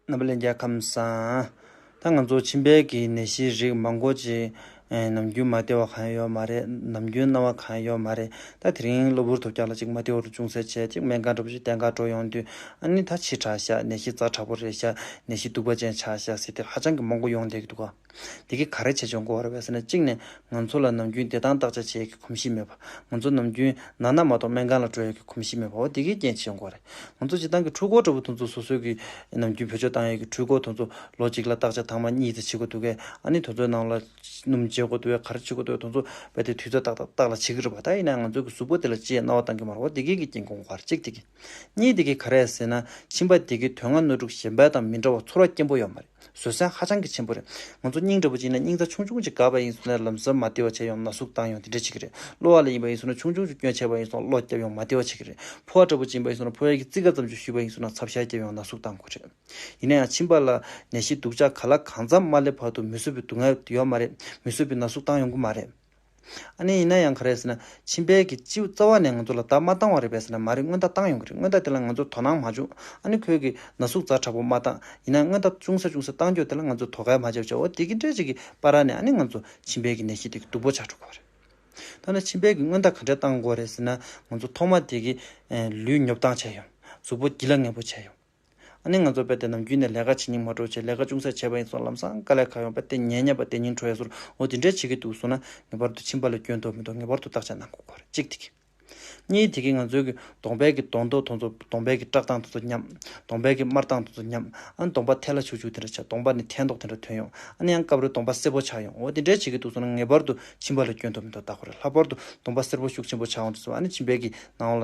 ནཱ་པ་ལེ་རྒྱལ་ཁམས་སམ། ད་ང་ཚོ་ཕྱི་འབལ་གྱི་ནད་གཞིའི་རིགས་མང་པོ་ཅིག། ནམ་རྒྱུན་མ་བདེ་བ་གང་ཡང་ཡོད་མ་རེད། ནམ་རྒྱུན་སྣང་བ་གང་ཡང་ཡོད་མ་རེད། ད་དེ་རིང་གློ་བུར་དུ་སྐྱག་ལ་ཅིག་མ་ཏེའུ་རུ་ཅུང་ཟད་བྱས་ཅིག་སྨན་ཁང་འགྲོ་ཞིག་སྟེ་འགག་འགྲོ་ཡོང་དུས། ཨ་ནི་ད་ཕྱི་དྲགས་ཤག་ནད་གཞི་རྩ་དྲག་པོ་རེད་ཤག་ནད་གཞི་སྡུག་པ་ཅན་ཆགས་ཤག་ཟེར་ཏེ་ཧ་ཅང་གི་མང་པོ་ཡོང་བསྡད་ཀྱི་འདུག་ག། དེ་གིས་ག་རེ་བྱས་ཆོག་གོ་ར་བས་ཟེར་ན་གཅིག་ནས་ང་ཚོ་ལ་ནམ་རྒྱུན་བདེ་ཐང་བརྟག་དཔྱད་བྱེད་ཡག་གི་གོམས་གཤིས་མེད་པ། ང་ཚོ་ནམ་རྒྱུན་ན་ན་མ་གཏོགས་སྨན་ཁང་ལ་འགྲོ་ཡག་གི་གོམས་གཤིས་མེད་པའོ་དེ་གའི་རྐྱེན་བྱས་གོ་རེ། ང་ཚོ་སྤྱི་བཏང་གི་འཕྲུལ་འཁོར་འདྲ་བོ་དུ་ཚོ་སོ་སོའི་གི་ནམ་རྒྱུན་བོད་ཆོས་བཏང་ཡག་གི་འཕྲུལ་འཁོར་དུ་ཚོ་ལོ་གཅིག་ལ་བརྟག་དཔྱད་ཐང་མ་གཉིས་ཚེ་བྱེད་གོ་འདུག་གས་ཨ་ནི་དུ་ཚོའི་ནང་ལ་སྣུམ་བྱེད་གོ་འདུག་གས་ག་རེ་བྱེད་གོ་འདུག་གས་དུ་ཚོ་བས་དེ་དུས་ཚོད་བཏགས་བཏགས་ལ་བྱེད་གི་རེད་བ་ད་ཡིན་ན་ང་ཚོའི་གི་གཟུགས་པོ་དེ་ལ་ཅི་ཡང་རྣ་བ་གཏང་གི་མ་རེད་བ་དེ་གའི་གི་རྐྱེན་གོ་ག་རེ་གཅིག་དེ་གི། གཉིས་དེ་གིས་ག་རེ་ཟེར་ན་ཁྱིམ་པ་དེ་གི་དོན་ལྔ་སྣོད་དྲུག་གཞན་པའི་དང་མི་འདྲ་བ་ཚོར་བ་སྐྱེན་པོ་ཡོད་མ་རེད། བཟོད་བསྲན་ཧ་ཅང་གི་ཆེན་པོ་རེད། ང་ཚོ་སྙིང་འདྲ་པོ་གཅིག་ན་སྙིང་རྩ་ཆུང་ཆུང་གཅིག་དགའ་བ་ཡིན་སོང་ན་ལམ་ཟུར་མ་བདེ་བ་བྱས་ཡོང་ན་ན་ཟུག་བཏང་ཡོང་དེ་འདྲ་བྱེད་ཀྱི་རེད། གློ་བ་ལ་ཡིན་པ་ཡིན་སོང་ན་ཆུང་ཆུང་ཅུ་སྐྱོན་བྱས་པ་ཡིན་སོང་ན་གློ་བརྒྱབ་ཡོང་མ་བདེ་བ་བྱེད་ཀྱི་རེད། ཕོ་བ་འདྲ་པོ་སྦྱིན་པ་ཡིན་སོང་ན་ཕོ་ཡ་གི་ཙི་ག་ཙམ་ཅུ་བཤུས་པ་ཡིན་སོང་ན་ཚབ་ཤ་བརྒྱབ་ཡོང་ན་ཟུག་བཏང་དགོས་རེད། ཡིན་ན་ཡང་ཕྱིན་པ་ལ་ནད་གཞི་སྡུག་ཅག་ག་ལ་གང་འཚམ་མ་སླེབས་བར་དུ་མི་བཟོད་པའི་སྡུག་བསྔལ་ཡོད་མ་རེད། མི་བཟོད་པའི་ན་ཟུག་བཏང་ཡོང་གི་མ་རེད། ཨ་ནེ་ཡིན་ན་ཡང་ག་རེ་ཟེར་ན་ཕྱི་འབལ་གྱི་སྤྱི་བོ་རྩ་བ་ནས་ང་ཚོ་ལ་བརྡ་མ་བཏང་བ་རེད་པས་ཟེར་ན་མ་རེད་སྔོན་བརྡ་བཏང་ཡོང་གི་རེད་སྔོན་བརྡ་དེ་ལ་ང་ཚོ་དོ་སྣང་མ་བྱུང་ཨ་ནེ་ཁོལ་གྱི་ན་ཟུག་རྩ་དྲག་པོ་མ་བཏང་ཡིན་ན་སྔོན་བརྡ་ཅུང་ཟད་ཅུང་ཟད་བཏང་རྒྱུ་དེ་ལ་ང་ཚོ་དོ་གལ་མ་བྱས་བྱས་འོ་དེ་གི་འདྲའི་ཅིག་གི་པ་ར་ནས་ཨ་ནེ་ང་ཚོ་ཕྱི་འབལ་གྱི་ནད་གཞི་དེ་གི་སྡུག་པོ་ཆགས་འགྲོ་གི་བ་རེད། ད་ནི་ཕྱི་འབལ་གྱི་སྔོན་བརྡ་ག་འདྲའི་བཏང་དགོས་རེད་ཟེར་ན་ང་ཚོ་ཐོག་མ་དེ་གི་ལུས་ཉོབ་ལྡང་བྱས་ཡོང། གཟུགས་པོ་སྒྱིད་ལ་ངན་པོ་བྱས་ཡོང། ཨ་ནི་ང་ཚོ་དཔེ་དེབ་རྣམས་བརྒྱུད་ནས་ལས་ཀ་བྱེད་སྙིང་མ་འཕྲོག་ཆེད་ལས་ཀ་ཅུང་ཟད་བྱས་པ་ཡིན་སོང་ལམ་སང་དཀའ་ལས་ཁག་ཡོང་པ་སྟེ་ཉལ་ཉལ་བ་སྟེ་ཉིན་གྲོ་ཡས་སོར་འོ་དེ་འདྲས་བྱེད་ཀྱི་འདུག་གསུངས་ན་ངེས་པར་དུ་ཕྱིན་པ་ལ་སྐྱོན་འདོགས་མི་འདོགས་ངེས་པར་དུ་བརྟག་དཔྱད་གནང་དགོས་སྐོར་གཅིག་དེ་གི། གཉིས་དེ་གི་ང་ཚོའི་གི་གདོང་དཔལ་གི་གདོང་མདོག་དང་ཚོ་གདོང་དཔལ་གི་བཀྲག་མདངས་དང་ཚོ་མཉམ། གདོང་དཔལ་གི་དམར་མདངས་དང་ཚོ་མཉམ། ཨ་ནི་གདོང་པ་ཐལ་ལ་བྱུག་བྱུག་དེ་འདྲ་བྱ་གདོང་པ་ནི་ཐལ་མདོག་དེ་འདྲ་ཐོན་ཡོང་ཨ་ནི་ཡང་སྐབས་རེར་གདོང་པ་སེར་པོ་ཆགས་ཡོང་འོ་དེ་འདྲས་བྱེད་ཀྱི་འདུག་གསུངས་ན་ངེས་པར་དུ་ཕྱིན་པ་ལ་སྐྱོན་འདོགས་མི་འདོགས་བརྟག་དགོས་རེད་ལྷག་པར་དུ་གདོང་པ་སེར་པོ་ཤུགས་ཆེན་པོ་ཆགས་འོང་དུ་གསུངས་ཨ་ནི་ཕྱིན་པས་གི་ནང་ལ་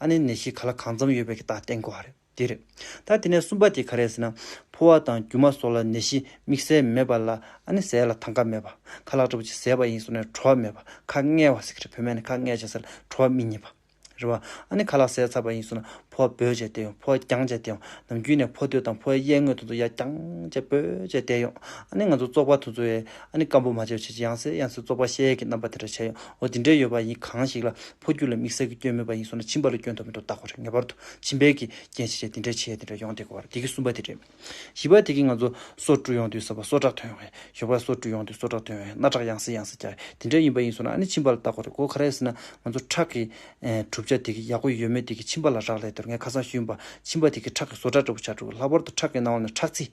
ཨ་ནེ་ནད་གཞི་ག་ལ་གང་འཚམས་ཡོད་པའི་རྟགས་གཏན་གོ་རེད། དེ་རེད། ད་དེ་ནས་གསུམ་པ་དེ་ག་རེད་ཟེར་ན། ཕོ་བ་དང་རྒྱུ་མ་སོགས་ལ་ནད་གཞི་དམིགས་བསལ་མེད་པ་ལ་ཨ་ནེ་ཟས་ལ་ཐང་ཀ་མེད་པ། ཁ་ལག་དྲོ་བ་ཅིག་ཟས་པ་ཡིན་སོགས་ནས་བྲོ་བ་མེད་པ་ཁ་བསྔལ་བ་ཟེར་གི་རེད་བོད་སྨན་ནས་ཁ་བསྔལ་བྱས་ཟེར་ལ་བྲོ་བ་མི་རྙེད་པ། རེད་བ། ཨ་ནེ་ཁ་ལག་ཟས་ཚ་བ་ཡིན་སོགས་ན་ཕོ་བ་འབོད་བྱས་བསྡད་ཡོང་ཕོ་བ་རྒྱང་བྱས་བསྡད་ཡོང་ནམ་རྒྱུན་ནས་ཕོ་སྟོད་དང་ཕོ་བའི་གཡས་ངོས་དོན་དུ་ཡར་རྒྱང་བྱས་འབོད་བྱས་བསྡད་ཡོང་ཨ་ནེ་ང་ཚོ་བཙོག་པ་ཐུ་ཚོ་ཡས་ཨ་ནེ་སྐམ་པོ་མ་བྱས་བྱས་ཅི་ཡང་ཟེར་ཡང་ཟེར་བཙོག་པ་བཤལ་ཡས་ཀྱི་རྣམ་པ་དེ་འདྲ་བྱས་ཡོང་འོ་དེ་འདྲས་ཡོད་པ་ཡིན་གང་ཞིག་ལ་ཕོ་རྒྱུད་ལ་དམིགས་བསལ་གྱི་སྐྱོན་མེད་པ་ཡིན་སོང་ན་བྱིས་པ་ལ་སྐྱོན་དུ་མི་འགྲོ་བལྟ་དགོས་རེད་ངེས་པར་དུ་བྱིས་པའི་གི་རྒྱན་ཞེས་བྱས་འདི་འདྲ་བྱས་འདི་འདྲ་ཡོང་དེ་གོ་བ་རེད་དེ་གི་གསུམ་པ་དེ་རེད། བཞི་པ་དེ་གི་ང་ཚོ་སོ་བཀྲུ་ཡོང་དུས་ཟ་བ་སོ་དྲག་ཐོན་ཡོང་བས་ཞོགས་པ་སོ་བཀྲུ་ཡོང་དུས་སོ་དྲག་ཐོན་ཡོང་བས་སྣ་དྲག་ཡང་སེ་ཡང་སེ་རྒྱག་གི་དེ་འདྲ་ཡིན་པ་ཡིན་སོང་ན་ཨ་ནི་བྱིས་པ་ལ་བལྟ་དགོས་རེད་གོ་ག་རེ་ཟེར་ན་ང་ཚོ་ཁྲག་གི་གྲུབ་ཆ་དེ་གི་ཡག་པོ་ཡོད་མེད་དེ་གི་བྱིས་པ་ལ་རག་ལས་དེར་ངས་ཁ་སང་ཤེས་ཡོན་པ་བྱིས་པ་དེ་གི་ཁྲག་གི་བཟོ་གྲྭ་འདྲ་པོ་བྱ་འགྲོ་གི་ལྷག་པར་དུ་ཁྲག་གི་ནང་བ་ནས་ཁྲག་རྩི།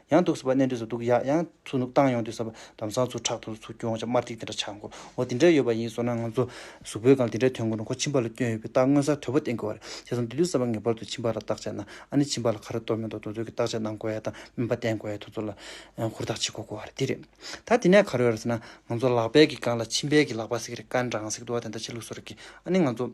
ཡང་འདུག་ཟེར་བ་གནས་འདྲེས་སུ་འདུག་ཡག་ཡང་ཚུར་ནུབ་བཏང་ཡོང་དུས་ཟེར་བ་དམ་སང་ཚུར་ཁྲག་ཐུག་ཚུར་སྐྱོན་ཆ་དམར་ཐིག་དེ་འདྲ་ཆགས་མགོ་བོ་འདི་འདྲ་ཡོད་པ་ཡིན་བཟོ་ན་ང་ཚོ་གཟུགས་པོའི་སྒང་དེ་འདྲའི་དོན་དགོས་ན་ཁོ་ཁྱིམ་པ་ལ་སྐྱོན་ཡོད་པའི་རྟགས་མངོན་གསལ་དོད་པོ་བསྟན་དགོས་བ་རེད་བྱས་ཙང་དུས་ཚོད་གསར་བ་ངེས་པར་དུ་ཁྱིམ་པ་ལ་བརྟག་བྱས་ན་ཨ་ནི་ཁྱིམ་པ་ལ་ཁ་ར་གཏོར་མེད་མདོག་འདོག་འདོག་གི་བརྟག་དཔྱད་གནང་དགོས་ཡ་དང་སྨན་པ་བསྟེན་དགོས་ཡ་དུས་ཚོད་ལ་ཧུར་ཐག་བྱེད་དགོས་དགོས་བ་རེད་དེ་རེད་ད་དེ་ནས་ག་རེ་ཡོད་རེད་ཟེར་ན་ང་ཚོ་ལག་པད་ཀྱི་སྒང་ལ་མཆིན་པད་ཀྱི་ལག་པ་ཟེར་གི་རེད་དཀར་འདྲ་ངང་ཟེར་གི་འདུག་བ་དེ་འདྲ་བྱེད་ལུགས་སུ་རེད་ཀི་ཨ་ནི་ང་ཚོ།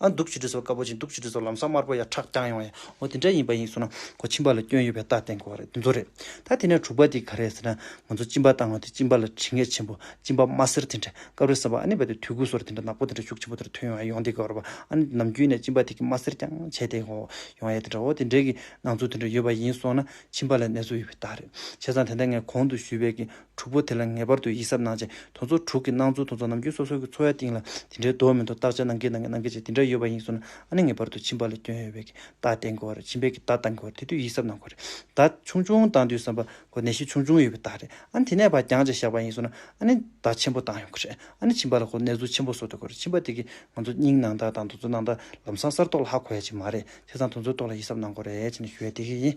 ཨ་འདུག་ཆུ་གྲི་སོགས་དཀར་པོ་ཅན་འདུག་ཆུ་གྲི་སོགས་ལམ་སང་དམར་པོ་ཡང་ཁྲག་རྐྱང་ཡོང་ཡ་འོ་དེ་འདྲ་ཡིན་པ་ཡིན་སོང་ན་གོ་གཅིན་པ་ལ་སྐྱོན་ཡོད་པའི་རྟགས་བསྟན་དགོས་བ་རེད་དེ་ཚོ་རེད་ད་དེ་ནས་དྲུག་པ་དེ་ག་རེད་ཟེར་ན་ང་ཚོ་གཅིན་པ་བཏང་བ་དེ་གཅིན་པ་ལ་དྲི་ངད་ཆེན་པོ་གཅིན་པ་དམར་སེར་དེ་འདྲ་སྐབས་རེ་སེམས་པ་ཨ་ནི་བ་དེ་དུས་འགོས་སོར་དེ་འདྲ་ནག་པོ་དེ་འདྲ་ཤུགས་ཆེན་པོ་དེ་འདྲ་ཐོན་ཡོང་ཡ་ཡོང་དེ་ག་བར་བ་ཨ་ནི་ནམ་རྒྱུན་ནས་གཅིན་པ་དེ་གི་དམར་སེར་རྐྱང་བྱས་དེ་གོ་ཡོང་ཡ་དེ་འདྲ་འོ་དེ་འདྲ་གི་སྣང་ཚུལ་དེ་འདྲ་ཡོད་པ་ཡིན་སོང་ན་གཅིན་པ་ལ་ནད་གསོ་ཡོད་པའི་རྟགས་རེད་བྱས་ཙང་དེ་འདྲ་ངས་གོང་དུ་ཞུས་བས་ཀི་དྲུག་པོ་དེ་ལ་ངེས་པར་དུ་ཡིད་གཟབ་གནང་བྱེད་དོན་ཚོ་དྲུག་གི་སྣང་ཚུལ་དོན་ཚོ་ནམ་རྒྱུན་སོ་སོ་གི་འཚོ་བའི་སྟེང་ལ་དེ་འདྲའི་དོགས་མི་དོགས་བརྟག་དཔྱད་གནང་གིན་གནང་གིན་གནང་གིན་བྱས་དེ་འདྲ་ཡོད་པ་ཡིན་གསུངས་ན་ཨ་ནི་ངེས་པར་དུ་བྱིན་པ་ལ་སྐྱོན་ཡོད་བས་ཀྱི་བརྡ་བསྟན་དགོས་བ་རེད་བྱིན་བས་ཀྱི་བརྡ་བཏང་དགོས་བ་རེད་དེ་དུས་ཡིད་གཟབ་གནང་དགོས་རེད་བརྡ་ཆུང་ཆུང་བཏང་དུས་བསམ་པ་དགོས་ནད་གཞི་ཆུང་ཆུང་ཡོད་བའི་བརྡ་རེད་ཨ་ནི་དེ་ནས་བར་འགྱངས་བྱས་བཞག་པ་ཡིན་གསུངས་ན་ཨ་ནི་བརྡ་ཆེན་པོ་བཏང་ཡོང་གི་རེད་ཨ་ནི་བྱིན་པ་ལ་ཁོ་ནད་ཟུག་ཆེན་པོ་བཟོ་ཐུབ་དགོས་རེད་བྱིན་པ་དེ་གིས་ང་ཚོ་སྙིང་ནང་དག་དང་དོན་ཚོ་ནང་དག་ལམ་སང་གསར་རྟོགས་ལ་ཧ་གོ་ཡ་ཅིག་མ་རེད་དེ་ཚང་དོན་ཚོའི་ཐོག་ལ་ཡིད་གཟབ་གནང་དགོས་རེད་ཅེས་ནས་ཞུ་ཡ་དེ་གིས་ཡིན།